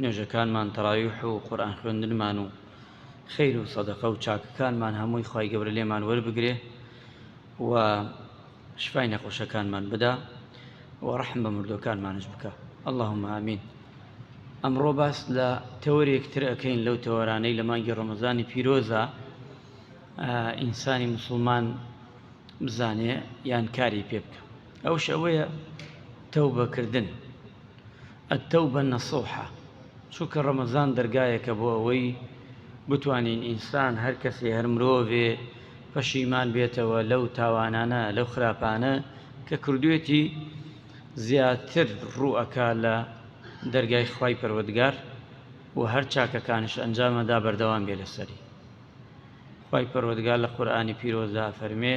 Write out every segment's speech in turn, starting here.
نوێژەکانمان تەڕاویح و قورئان خوێندنمان و خەیر و سەدەقە و چاکەکانمان هەمووی خوای گەورە لێمان وەربگرێ و شفای نەخۆشەکانمان بدا و ڕەحم بە مردووەکانمانش بکا اللهم آمین ئەمڕۆ باس لە تەوەرێک تر ئەەکەین لەو تەوەرانەی لە مانگی ڕەمەزانی پیرۆزە ئینسانی مسلمان بزانێ یان کاری پێ بکە ئەوش ئەوەیە تەو بەکردن التوبە نصوحە چونکە ڕەمەزان دەرگایەکە بۆ ئەوەی بتوانین ئینسان هەر کەسێ هەر مرۆڤێ پەشیمان بێتەوە لەو تاوانانە لەو خراپانە کە کردوێتی زیاتر ڕوو ئەکا لە دەرگای خوای پەروەردگار و هەر چاکەکانش ئەنجام ئەدا بەردەوام بێ لەسەری خوای پەروەردگار لە قورئانی پیرۆزدا ئەفەرموێ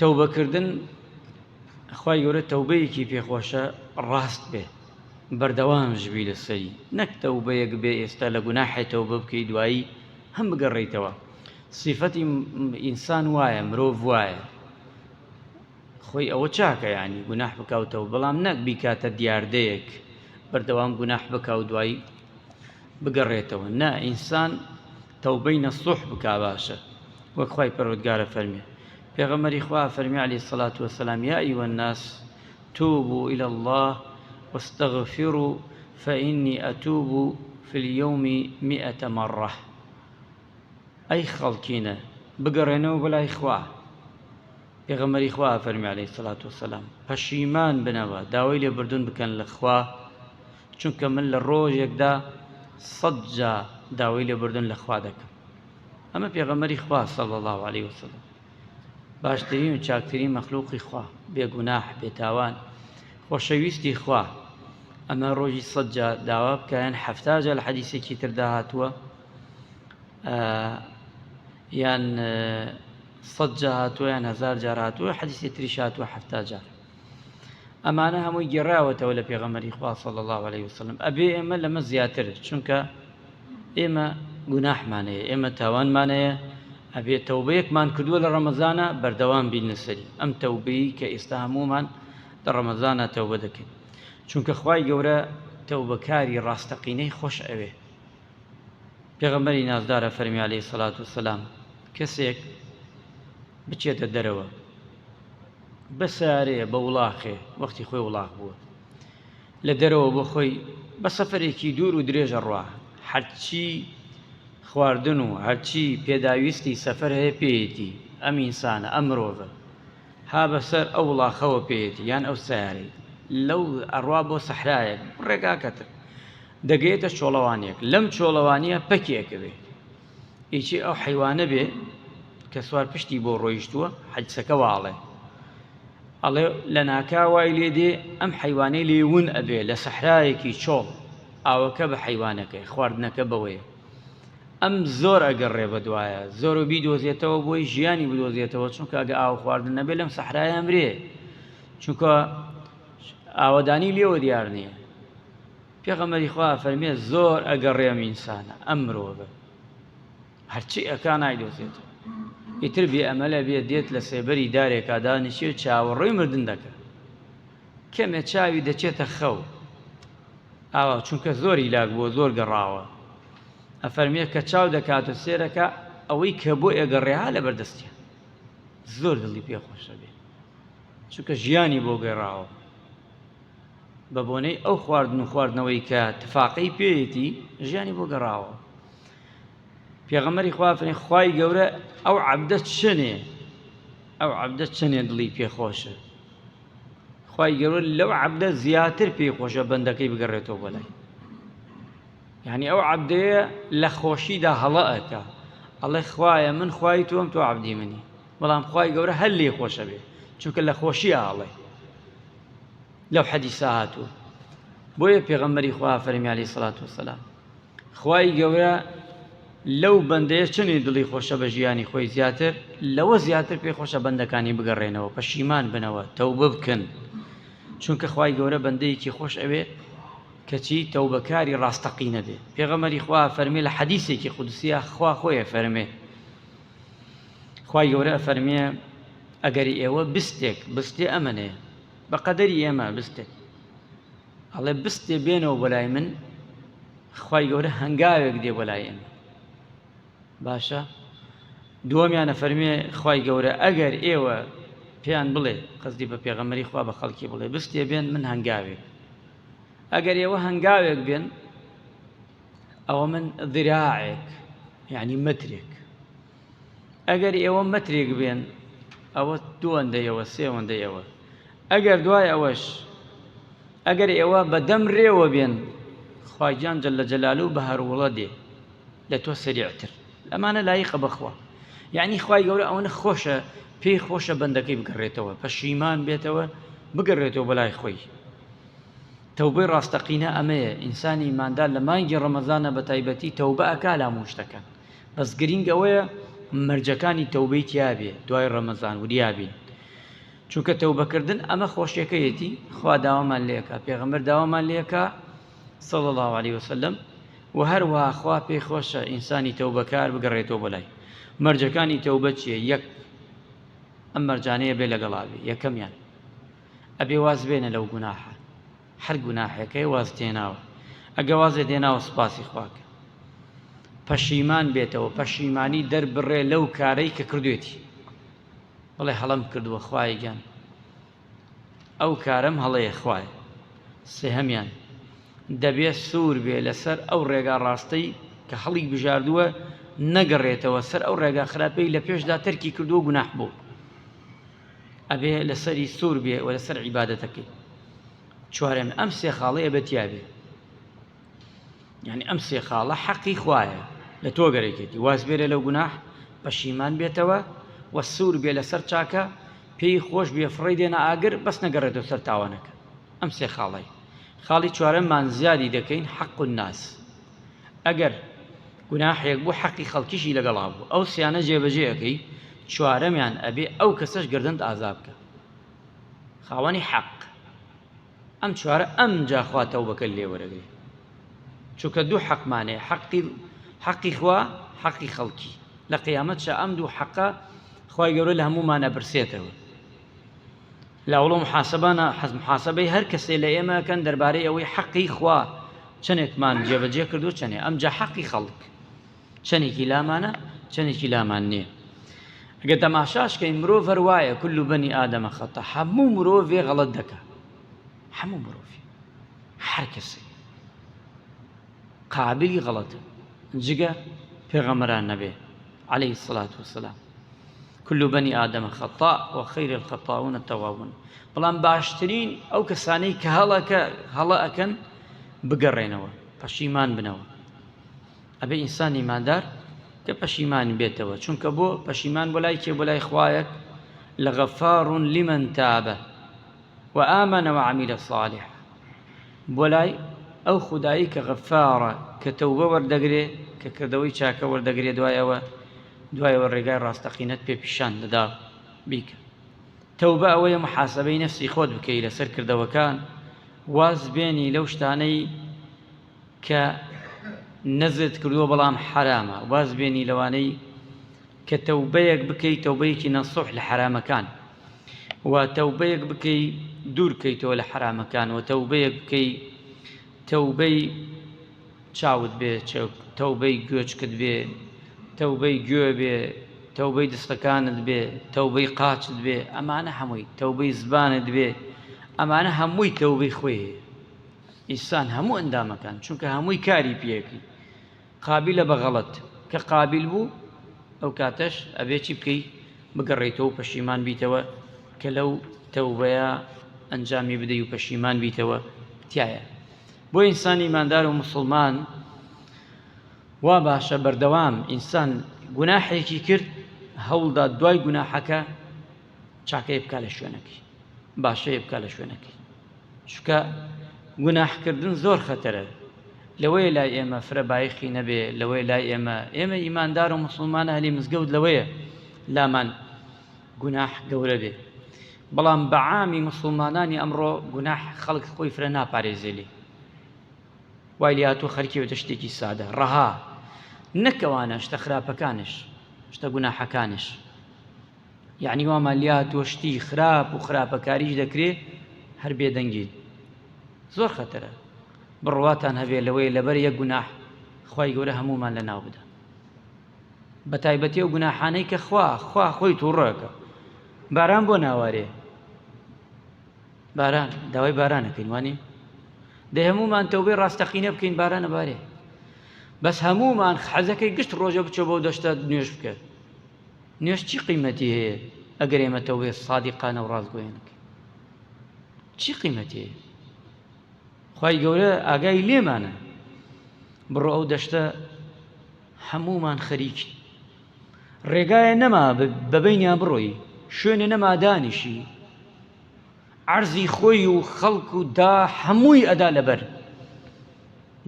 تەوبەکردن خوای گەورە تەوبەیەکی پێخۆشە ڕاست بێ بەردەوامش بی لەسەری نەک تەوبەیەک بێ ئێستا لە گوناحێ تەوبە بکەی دوایی هەم بگەڕیتەوە سیفەتی ئینسان وایە مرۆڤ وایە خۆی ئەوە چاکە ینی گوناح بکاوتەوە بەڵام نەک بیکاتە دیاردەیەک بەردەوام گوناح بکاو دوایی بگەڕێتەوە نا ئینسان تەوبەی نەسوح بکا باشە وەک خوای پەروەردگارە فەرمی پێغەمبەری خوا فەرمی علی سەلات وسلام یا ای والناس توبوا الی الله واستغفروا فإني اتوب في اليوم مئة مرة ئەی خەڵکینە بگەڕێنەوە بۆ لای خوا پێغەمەری خوا فەرمی عليه سلات وسلام پەشیمان بنەوە داوای لێبردون بکەن لە خوا چونکە من لە ڕۆژێکدا سەد جا داوای لێبوردن لە خوا دەکەم ئەمە پێغەمەری خوا صلی الله علیه وسلم باشترین و چاکترین مەخلوقی خوا بێگوناح بێتاوان خۆشەویستی خوا ئەمە ڕۆژی سەد جا داوا بکەیان حەفتا جا لە حەدیسێکی تردا هاتووە یان سەد جا هاتووە یان هزار جار هاتووە حەدیسی تریش هاتووە حەفتا جار ئەمانە هەمووی گێڕاوەتەوە لە پێغەمەری خوا صلی الله علیه وسلم ئەبێ ئێمە لەمە زیاتر چونکە ئێمە گوناحمانەیە ئێمە تاوانمانەیە ئەبێ تەوبەیەکمان کردووە لە ڕەمەزانە بەردەوام بین لەسەری ئەم تەوبەی کە ئێستا هەمومان لە ڕەمەزانە تەوبە دەکەین چونکە خوای گەورە تەوبەکاری ڕاستەقینەی خۆش ئەوێ پێغەمەری نازدارە فەرمی عليه سەلات و سەسلام کەسێک بچێتە دەرەوە بە سارێ بە وڵاخێ وەختی خۆی وڵاخ بووە لە دەرەوە بۆ خۆی بە سەفەرێکی دوور و درێژە ڕوا هەرچی خواردن و هەرچی پێداویستی سەفەر هەیە پێیەتی ئەم ئینسانە ئەم مرۆڤە ها بەسەر ئەو وڵاخەوە پێیەتی یان ئەو سارەی لەو ئەڕوا بۆ سەحرایەک ڕێگاکەتر دەگەێتە چۆڵەوانێک لەم چۆڵەوانیە پەکێکەوێ ئیچی ئەو حەیوانە بێ کە سوار پشتی بۆ ڕۆیشتووە حەدیسەکە واڵێ ئەڵێ لە ناکا وای لێ دێ ئەم حەیوانەی لێون ئەبێ لە سەحرایەکی چۆڵ ئاوەکە بە حەیوانەکەی خواردنەکە بەوەیە ئەم زۆر ئەگەڕێ بە دوایە زۆر و بیدۆزێتەوە بۆی ژیانی بدۆزێتەوە چونکە ئەگە ئاو خواردن نەبێ لەم سەحرایان برێ چونکە ئاوەدانی لێوە دیار نییە پێغەمبەری خوا فەرمێ زۆر ئەگەڕێم ئینسانە ئەم مرۆڤە هەرچی ئەکا نایدۆزێتەوە ئیتر بێ ئەمەلە بێ دێت لە سێبەری دارێکا دانیشێ چاوەڕێی مردن دەکە کەمێ چاوی دەچێتە خەو ئاوا چونکە زۆری لاک بۆ زۆر گەڕاوە ئەفەرمێ کە چاو دەکات و سێرەکە ئەوەی کە بۆ ئێگەڕێها لە بەردەستیان زۆر دڵی پێخۆشە بێ چونکە ژیانی بۆ گەڕاوە بە بۆنەی ئەو خواردن و خواردنەوەی کە تفاقەی پێیەتی ژیانی بۆ گەڕاوە پێغەمەری خوا فەرمی خوای گەورە ئەو عەبدە چەنێ ئەو عەبدە چەنێ دڵی پێخۆشە خوای گەورە لەو عەبدە زیاتر پێی خۆشە بەندەکەی بگەڕێتەوە بۆ لای یعنی ئەو عەبدەیە لە خۆشیدا هەڵە ئەکا ئەڵێ خوایە من خوای تۆم تۆ عەبدی منی بەڵام خوای گەورە هەر لێ خۆشە بێ چونکە لە خۆشی ئاڵێ لەو حەدیسە هاتووە بۆیە پێغەمبەری خوا فەرمی عەلەیهی سەڵات وەسەلام خوای گەورە لەو بەندەیە چەنێ دڵی خۆشە بە ژیانی خۆی زیاتر لەوە زیاتر پێ خۆشە بەندەکانی بگەڕێنەوە پەشیمان بنەوە تەوبە بکەن چونکە خوای گەورە بەندەیەکی خۆش ئەوێ کەچی تەوبەکاری ڕاستەقینە بێ پێغەمەری خوا فەرمی لە حەدیسێکی قودسیە خوا خۆیە فەرمێ خوای گەورە ئەفەرمێ، ئەگەر ئێوە بستێک، بستێ ئەمەێ، بە قەدەری ئێمە بستێک، ئەڵێ بستێ بێنەوە بۆ لای من، خوای گەورە هەنگاوێک دێ بۆ لای ئێمە. باشە دووەمیانە فەرمێ خوای گەورە ئەگەر ئێوە پێیان بڵێ قەزدی بە پێغەمەری خوا بە خەڵکی بڵێ بستێ بێن من هەنگاوێک ئەگەر ئێوە هەنگاوێک بێن ئەوە من ذراعێک یعنی مترێک ئەگەر ئێوە مترێک بێن ئەوە دووەندەیەوە سێوەندەیەوە ئەگەر دوای ئەوەش ئەگەر ئێوە بەدەم رێوە بێن خواگیان جل لە جەلال و بە هەروڵە دێ لە تۆ سریعتر ئەمانە لایقە بخوا یعنی خی گەورە ئەوەنە خۆشە پێی خۆشە بەندەکەی بگەڕێتەوە پەشیمان بێتەوە بگەڕێتەوە بەلای خۆی تەوبەی ڕاستەقینە ئەمەیە ئینسان ئیماندار لە مانگی ڕەمەزانا بەتایبەتی تەوبە ئەکا لە هەموو شتەکان بەس گرینگ ئەوەیە مەرجەکانی تەوبەی تیابێ دوای ڕەمەزان وریابین چونکە تەوبەکردن ئەمە خۆشیەکەیەتی خوا داوامان لێکا پێغەمبەر داوامان لێکا صلی الله علیه وسلم و هەروە خوا پێی خۆشە ئینسانی تەوبەکار بگەڕێتەوە بەلای مەرجەکانی تەوبە چیە یەک ئەم مەرجانەیە بێ لەگەڵاوی یەکەمیان ئەبێ واز بێنە لەو گوناحە هەر گوناحەکەی واز تێناوە ئەگە وازێ دێناوە سوپاسی خواکە پەشیمان بێتەوە پەشیمانی دەربڕێ لەو کارەی کە کردوێتی بڵێ هەڵم کردووە خوای گیان ئەو کارم هەڵەیە خوای سێهەمیان دەبێت سوور بێ لەسەر ئەو ڕێگا ڕاستەی کە هەڵی بژاردووە نەگەڕێتەوە سەر ئەو ڕێگا خراپەی لە پێشدا تەرکی کردووە گوناح بوو ئەبێ لەسەری سوور بێ و لەسەر عیبادەتەکەی چوارێم ئەم سێ خاڵی ئەبێ تیابێ یعنی ئەم سێ خاڵە حەقی خوایە لە تۆ گەرەکێتی واز بێرە لەو گوناح پەشیمان بێتەوە و سوور بێ لەسەر چاکە پێی خۆش بێ فڕی دێنە ئاگر بەس نەگەڕێتەوە سەر تاوانەکە ئەم سێ خاڵی خاڵی چوارەممان زیادی دەکەین حەق و ناس ئەگەر گوناحێک بوو حەقی خەڵکیشی لەگەڵا بوو ئەو سیانە جێبەجێ ئەکەی چوارەمیان ئەبێ ئەو کەسەش گەردنت ئازا بکا خاوەنی حەق ئەم چوارە ئەمجا خوا تەوبەکەت لێ وەرەگرێ چونکە دوو حەقمانێ حەقی حەقی خوا حەقی خەڵکی لە قیامەت شە ئەم دوو حەقە خوای گەورە لە هەموومان ئەپرسێتەوە لاوڵ و محاسەبانە حەز محاسەبەی هەر کەسێ لە ئێمە ئەکەن دەربارەی ئەوەی حەقی خوا چەنێکمان جێبەجێ کردو چەنێ ئەمجا حەقی خەڵک چەنێکی لامانە چەنێکی لامان نییە گە تەماشاش کەین مرۆڤ هەر وایە کل و بەنی ئادەمە خەتە هەموو مرۆڤێ غەڵەت دەکە هەموو مرۆڤ هەر کەسی قابلی غەڵەتە جگە پێغەمەران نەبێ علیە الصلوة والسلام کل بنی آدم خطاء و خیر الخطاؤون التوابون بەڵام باشترین ئەو کەسانەی کە هەڵەکە هەڵە ئەکەن بگەڕێنەوە پەشیمان بنەوە ئەبێ ئینسان ئیماندار کە پەشیمان بێتەوە چونکە بۆ پەشیمان بۆ لای کێ بۆ لای خوایەک لە غەفار لمن تابە وآمن وعمل صالحا بۆ لای ئەو خودایەی کە غەفارە کە تەوبە وەردەگرێ کە کردەوەی چاکە وەردەگرێ دوای ئەوە دوای ئەوە ڕێگای ڕاستەقینەت پێ پیشان دەدا بیکە تەوبە ئەوەیە محاسبەی نەفسی خۆت بکەی لەسەر کردەوەکان واز بێنی لەو شتانەی کە نەزرت کردووە بەڵام حەرامە واز بێنی لەوانەی کە تەوبەیەک بکەی تەوبەیەکی نەسوح لە حەرامەکان و تەوبەیەک بکەی دوور کەیتەوە لە حەرامەکان و تەوبەیەک بکەی تەوبەی چاوت بێ تەوبەی گوێچکت بێ تەوبەی گوێ بێ تەوبەی دستەکانت بێ تەوبەی قاچت بێ ئەمانە هەمووی تەوبەی زبانت بێ ئەمانە هەمووی تەوبەی خۆی ئیسان هەموو ئەندامەکان چونکە هەمووی کاری پێەکەی قابیلە بە غەڵەت کە قابیل بوو ئەو کاتەش ئەبێ چی بکەی بگەڕێیتەوە و پەشیمان بیتەوە کە لەو تەوبەیە ئەنجامی بدەی و پەشیمان بیتەوە تیایە بۆ ئینسانی ئیماندار و مسوڵمان وا باشە بەردەوام ئینسان گوناحێکی کرد هەوڵدا دوای گوناحەکە چاکەی بکە لە شوێنەکەی باشەی بکە لە شوێنەکەی چکە گوناحکردن زۆر خەتەرە لەوەیە لای ئێمە فرە بایخی نەبێ لەوەی لای ئێمە ئێمە ئیماندار و مسلمانە هەلی مزگەوت لەوەیە لامان گوناح گەورە بێ بەڵام بەعامی مسلمانانی ئەمڕۆ گوناح خەڵک خۆی فرە ناپارێزێلی وای لاتوو خەرکی بێتە شتێکی سادە ڕەها نەکەوانە شتە خراپەکانش شتە گوناحەکانش یەعنی وامان لێهاتووە شتی خراپ و خراپەکاریش دەکرێ هەر بێدەنگیت زۆر خەتەرە بڕواتان هەبێ لەوەی لەبەر یەک گوناح خوای گەورە هەموومان لە ناو بدە بە تایبەتی و گوناحانەی کە خوا خوا خۆی تووڕەکە باران بۆ ناوارێ باران داوای بارانەکەین وانێ دە هەمومان تەوبێ ڕاستەقینە بکەین بارانە بارێ بەس هەمومان حەزەکەی گشت ڕۆژە بچۆ بۆ دەشتە نوێش بکە نوێژ چی قیمەتی هەیە ئەگەر ئێمە تەوبەی سادیقانە و ڕاستگۆیانە بکەین چی قیمەتی هەیە خی گەورە ئاگای لێمانە بڕۆ ئەو دەشتە هەمومان خەریکی ڕێگایە نەما بەبینیان بڕۆی شوێنە نەما دانیشی عەرزی خۆی و خەڵک و دا هەمووی ئەدا لەبەر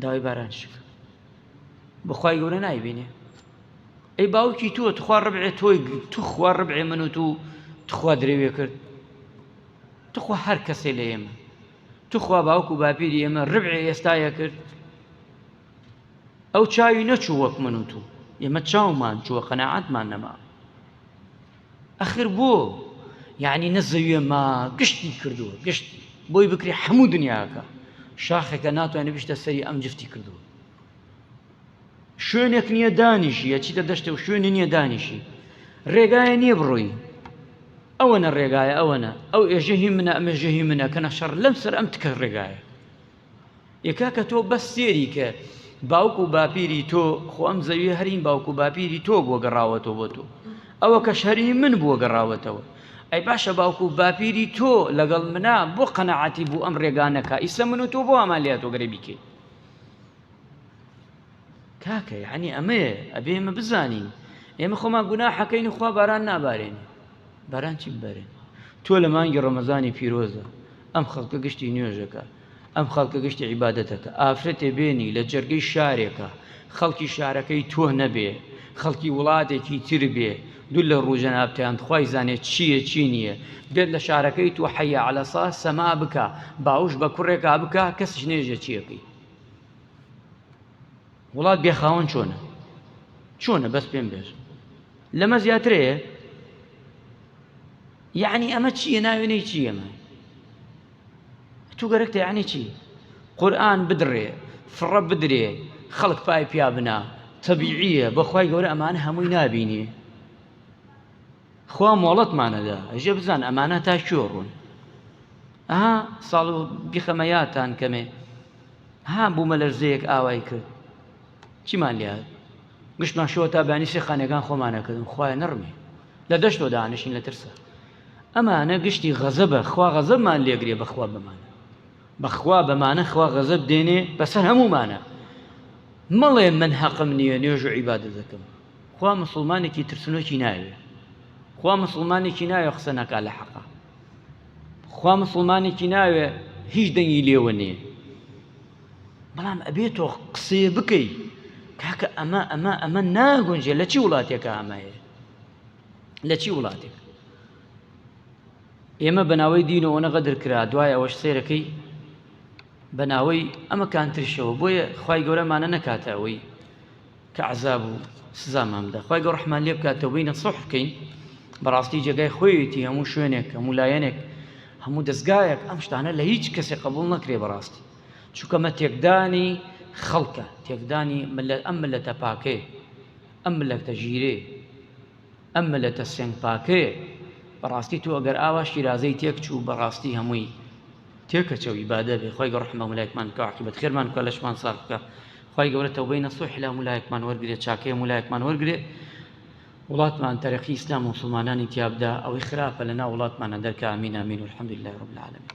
داوای باران شکە بخوای گەورە نایبینێ ئەی باوکی تۆ تخوا ڕبعێ تۆی تخوا ڕبعێ من و تو تخوا درێوێ کرد تخوا هەر کەسێ لە ئێمە تخوا باوک و باپیری ئێمە ڕبعێ ئێستاە کرد ئەو چاوی نەچوو وەک من و تو ئێمە چاومان چووە قەنەعاتمان نەما ئەخر بۆ یعنی نەزەویێ ما گشتی کردووە گشت بۆی بکری هەموو دنیاکە شاخێکە ناتوانێت بشتە سەری ئەم جفتی کردووە شوێنێک نییە دانیشی ئەچیتە دەشتێ و شوێنی نییە دانیشی ڕێگایە نییە بڕۆی ئەوەنە ڕێگایە ئەوەنە ئەو ئێژەهی منە ئەمێژەهی منە کە نەشەڕ لەم سەر ئەم تکە ڕێگایە یەکا کە تۆ بەس سێری کە باوک و باپیری تۆ خۆ ئەم زەوی هەرین باوک و باپیری تۆ بووە گەڕاوەتەوە بۆ تۆ ئەوە کە شەری من بووە گەڕاوەتەوە ئەی باشە باوکو و باپیری تۆ لەگەڵ منە بۆ قەنەعاتی بوو ئەم ڕێگانەکە ئیسە من و تۆ بۆ ئەمالیاتۆگەرە بیکەین کاکە یعنی ئەمەیە ئەبێ ئێمە بزانین ئێمە خۆمان گوناحەکەین خوا باران نابارێنێ باران چی ببارێن تۆ لە مانگی ڕەمەزانی پیرۆزە ئەم خەڵکە گشتی نوێژەکە ئەم خەڵکە گشتی عیباەتەکە ئافرەتێ بێنی لە جەرگەی شارێکە خەڵکی شارەکەی تۆ نەبێ خەڵکی وڵاتێکی تر بێ دوول لە ڕوژەنابتیان خی زانێت چییە چی نییە بێت لە شارەکەی تۆ حەیە علەسا سەما بکە باوش بە کوڕێکا بکە کەسش نێژە چیەکەی وڵات بێ خاوەن چۆنە چۆنە بەس پێم بێژ لەمە زیاترەیە یعنی ئەمە چییە ناوێنەی چی ئەمە تو گەرەکتە یعنی چی قورآن بدڕێ فڕە بدرێ خەڵک پای پیا بنا تەبیعیە بەخوای گەورە ئەمان هەمووی نابینێ خوا مۆڵەتمان ئەدا ئەژێ بزان ئەمانە تا کوێ ڕوون ئەها ساڵ و بیخەمە یاتان کەمێ ها بوومە لەرزەیەک ئاوای کرد چیمان لێ گشتمان شەوە تا بانی سێ خانەکان خۆمانەکردن خوای نڕمی لە دەشتۆ دانشین لە ترسە ئەمانە گشتی غەزە بە خوا غەزەبمان لێگرێ بەخوا بمانە بەخوا بەمانە خوا غەزەب دێنێ بەسەر هەمومانە مەڵێ من حەقم نییە نوێژ و عیبادە دەکەم خوا موسڵمانێکی ترسنۆکی ناوێ خوا موسڵمانێکی ناوێ قسە نەکا لە حەقا خوا موسڵمانێکی ناوێ هیچ دەنگی لێوە نییە بەڵام ئەبێ تۆ قسێ بکەی کاکە ئەمە ئەمە ئەمە ناگونجێ لە چی وڵاتێکە ئەمە هەیە لە چی وڵاتێک ئێمە بەناوەی دینەوەە غەدر کرا دوای ئەوەش سێرەکەی بەناوەی ئەمە کانترشەوە بۆیە خی گەورەمانە نەکاتە ئەوەی کە عەزاب و سزامان بدا خوای گەو رەحمان لێ بکات تەوبەی نەسوح بکەین بەڕاستی جێگای خۆیەتی هەموو شوێنێک هەموو لایەنێک هەموو دەستگایەک ئەم شتانە لە هیچ کەسێک قبول نەکرێ بەڕاستی چووکەمە تێکدانی خەڵکە تێکدانی ملە ئەم ملە تەپاکەیە ئەم ملەکتە ژیرێ ئەم ملە تە سێنگ پاکەیە بەڕاستی تو ئەگەر ئاوا شیرازەی تێک چوو بەڕاستی هەمووی تێکەچەوی بادەبێ خۆی گەڕحمە ملایکمان کاعقیبەت خێرمان کە لەشمان ساخکە خوای گەورە تەوبەی نەسوحی لە هەموو لایەکمان وەرگرێ چاکەی هەموو لایەکمان وەرگرێ وڵاتمان تەرەقی ئیسلام و مسلمانانی تیابدا ئەوەی خراپە لە ناو وڵاتمانە دەرکە ئامین ئامین والحمد لله رب العالمین